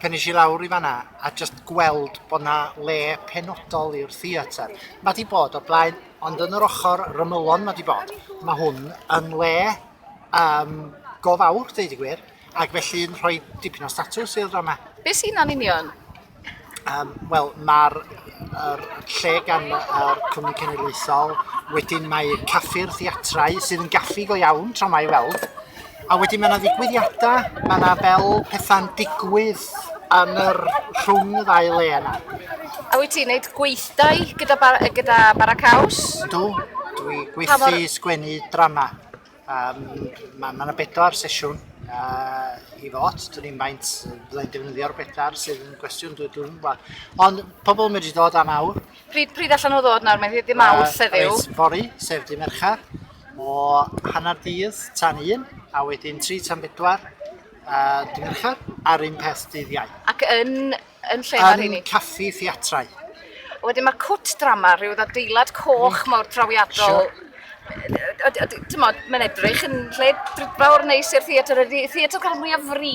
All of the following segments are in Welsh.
pan es i lawr i fanna a jyst gweld bod 'na le penodol i'r theatr. Mae 'di bod o blaen, ond yn yr ochr rymylon mae 'di bod. Mae hwn yn le um, go fawr, dweud y gwir, ac felly'n rhoi dipyn o statws i'r drama. Be sy'n na'n union? Um, Wel, mae'r er, lle gan y er, Cwmni Cenedlaethol, wedyn mae caffi'r theatrau sydd yn gaffi go iawn tro mae weld, A wedyn mae yna ddigwyddiadau, mae yna fel pethau'n digwydd yn yr rhwng y ddau le yna. A wyt ti'n gwneud gweithdai gyda, bar, gyda Bara Caws? Dw, dwi gweithio mor... sgwennu drama. Um, mae yna bedwar sesiwn uh, i fod, dwi'n i'n faint byddai'n defnyddio'r bedwar sydd yn gwestiwn dwi'n dwi'n gwybod. Ond pobl yn medru dod am awr, Pryd, pryd allan nhw ddod nawr? Mae'n ddydd mawr, sef yw? Reit, fori, sef di merchad, o hanner dydd tan un, a wedyn tri tan bedwar, uh, di merchad, a'r un peth dydd iau. Ac yn, yn lle mae'r hynny? Yn caffi theatrau. Wedyn mae cwt drama, rhyw ddadeilad coch mm. mawr trawiadol. Sure. Mae'n edrych yn lle drudfawr neis i'r theatr. Theatr cael mwyaf fri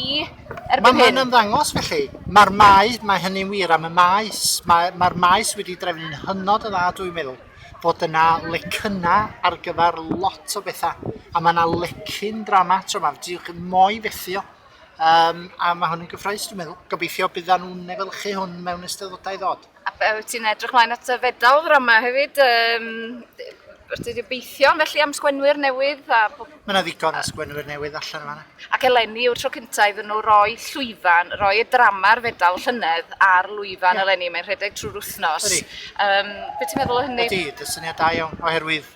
Erbyn Mae hyn. mae'n ymddangos felly. Mae'r mae, mae hynny'n wir am y maes. Mae'r mae maes wedi drefnu'n hynod o dda, dwi'n meddwl, bod yna lecynna ar gyfer lot o bethau. A mae yna lecyn drama tro yma, diwch yn moi fethu o. Um, a mae hwn yn gyffroes, dwi'n meddwl. Gobeithio byddan nhw'n efelychu hwn mewn eisteddodau ddod. A be wyt ti'n edrych mlaen at y fedal ran yma hefyd? Um, Wyt ti'n gobeithio felly am sgwenwyr newydd? A... Mae yna ddigon o sgwenwyr newydd allan yma. Ac eleni yw'r tro cyntaf iddyn nhw roi llwyfan, roi y drama'r fedal llynedd ar lwyfan yeah. eleni, mae'n rhedeg trwy'r wythnos. Um, be ti'n meddwl o hynny? Ydy, dy syniad da iawn, oherwydd